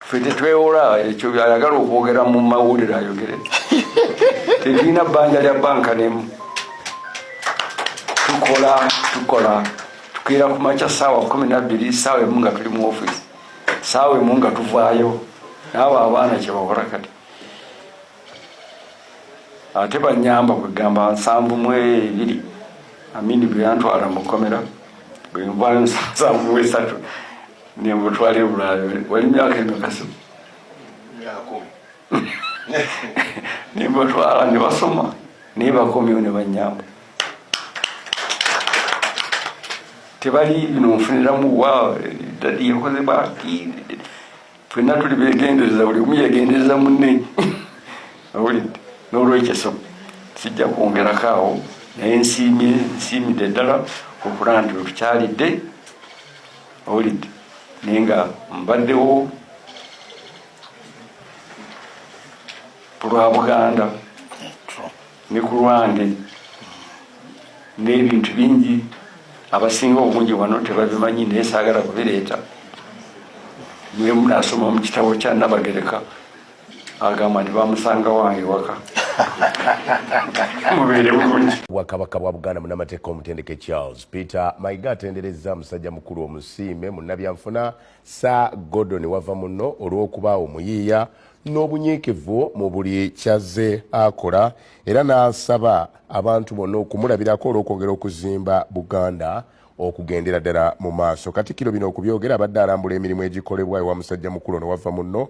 ffe tetwewola ekyo byayagala okwogera mu mawulire ayogere tetulina bbanja lya banka nemu tukola tukola tukeera ku makya saawa kumi nabbiri saawa emu nga tuli mu ofisi saawa emu nga tuvaayo naabo abaana kyebakola kati ate banyamba kwegamba nsanvu mu ebiri amini bweyantwala mukomera bwenvayo nsanvu mu esatu nemutwala ebulayo wali myaka emikasi nebatwala nebasoma naye bakomyewo nebanyamba tebali bino nfuniramu wa dadi yakoze baki fenna tuli begendereza buli omu yegendereza munne awulidde nolwekyo so sijja kwongerako awo naye nsiimye nsiimidde ddala okulaba nti wetukyalidde Owulidde naye nga mbaddewo kulwa Buganda ne ku lwange n'ebintu bingi abasinga obungi wano tebabimanyi naye saagala kubireeta mwe munasoma mu kitabo kya Nnabagereka agamba nti bamusanga wange waka mubeere bulungi bwakabaka bwa buganda munamateeka omutendeke charles peter mayiga atenderezza musajja mukulu omusiime munnabyanfuna sir gordon wava muno olw'okuba omuyiiya n'obunyiikivu mu buli kyazze akola era n'asaba abantu bonna okumulabirako olw'okwongera okuzimba buganda okugendera ddala mu maaso katikiro bino okubyogera abadde alambula emirimu egikolebwa ewa musajja mukulu ono wava munno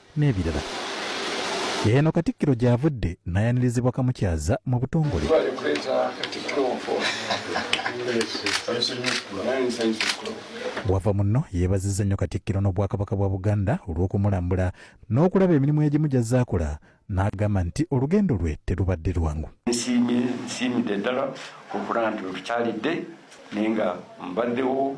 n'ebirala. Eno Katikkiro gy'avudde n'ayanirizibwa Kamukyaza mu butongole. Wava muno yeebazizza nnyo Katikkiro n'Obwakabaka bwa Buganda olw'okumulambula n'okulaba emirimu egimu gy'azze akola n'agamba nti olugendo lwe terubadde lwangu. Nsiimye nsiimidde ddala okuba nti wetukyalidde naye nga mbaddewo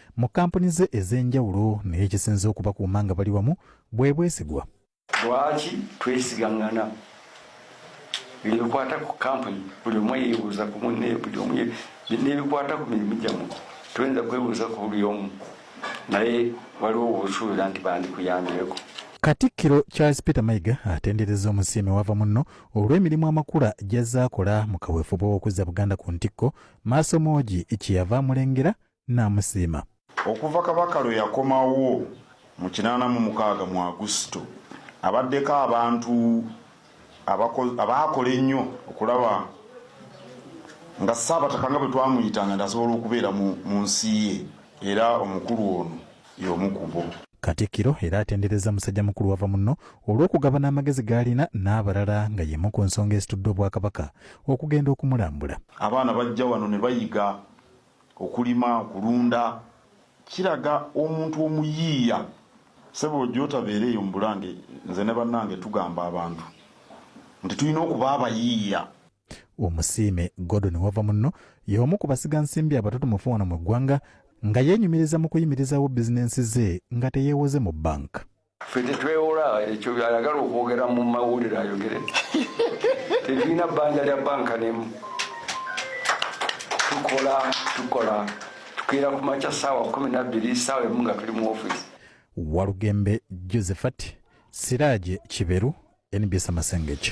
mu kkampuni ze ez'enjawulo naye ekisinze okubakuuma nga bali wamu bwe bwesigwa lwaki twesigangana bino bikwata ku kampuni buli omu yeebuuza ku munne buli omu nebikwata ku mirimu gyamu toyinza kwebuuza ku buli omu naye waliwo wosuubira nti bandikuyambyeko katikkiro charles peter mayiga atendereza omusiime wava munno olw'emirimu amakula gy'azze akola mu kaweefube w'okuzza buganda ku ntikko maaso moogi kyeyava amulengera n'amusiima. Okuva Kabaka lwe yakomawo mu kinaana mu mukaaga mu Agusito, abaddeko abantu abaakola ennyo okulaba nga Ssaabataka nga bwe twamuyitanga nti asobola okubeera mu nsi ye era omukulu ono y'omu ku bo. Katikkiro era atenderezza musajja mukulu wava munno olw'okugabana amagezi g'alina n'abalala nga y'emu ku nsonga ezitudde Obwakabaka okugenda okumulambula. Abaana bajja wano ne bayiga okulima okulunda kiraga omuntu omuyiiya sebo gyotabeera eyo mubulange nze ne bannange tugamba abantu nti tulina okuba abayiiya omusiime gordon wava munno y'omu ku basiga nsimbi abatutumufu wano mu ggwanga nga yeenyumiriza mu kuyimirizawo bizinensi ze nga teyeewoze mu banka ffe tetwewola ekyo ayagala okwogera mu mawulire ayogere tetulina bbanja lya banka nemu tukola tukola tukeera ku makya saawa kumi nabbiri saawa emu nga tuli mu ofisi walugembe josephat siraje kiberu nbs amasengeki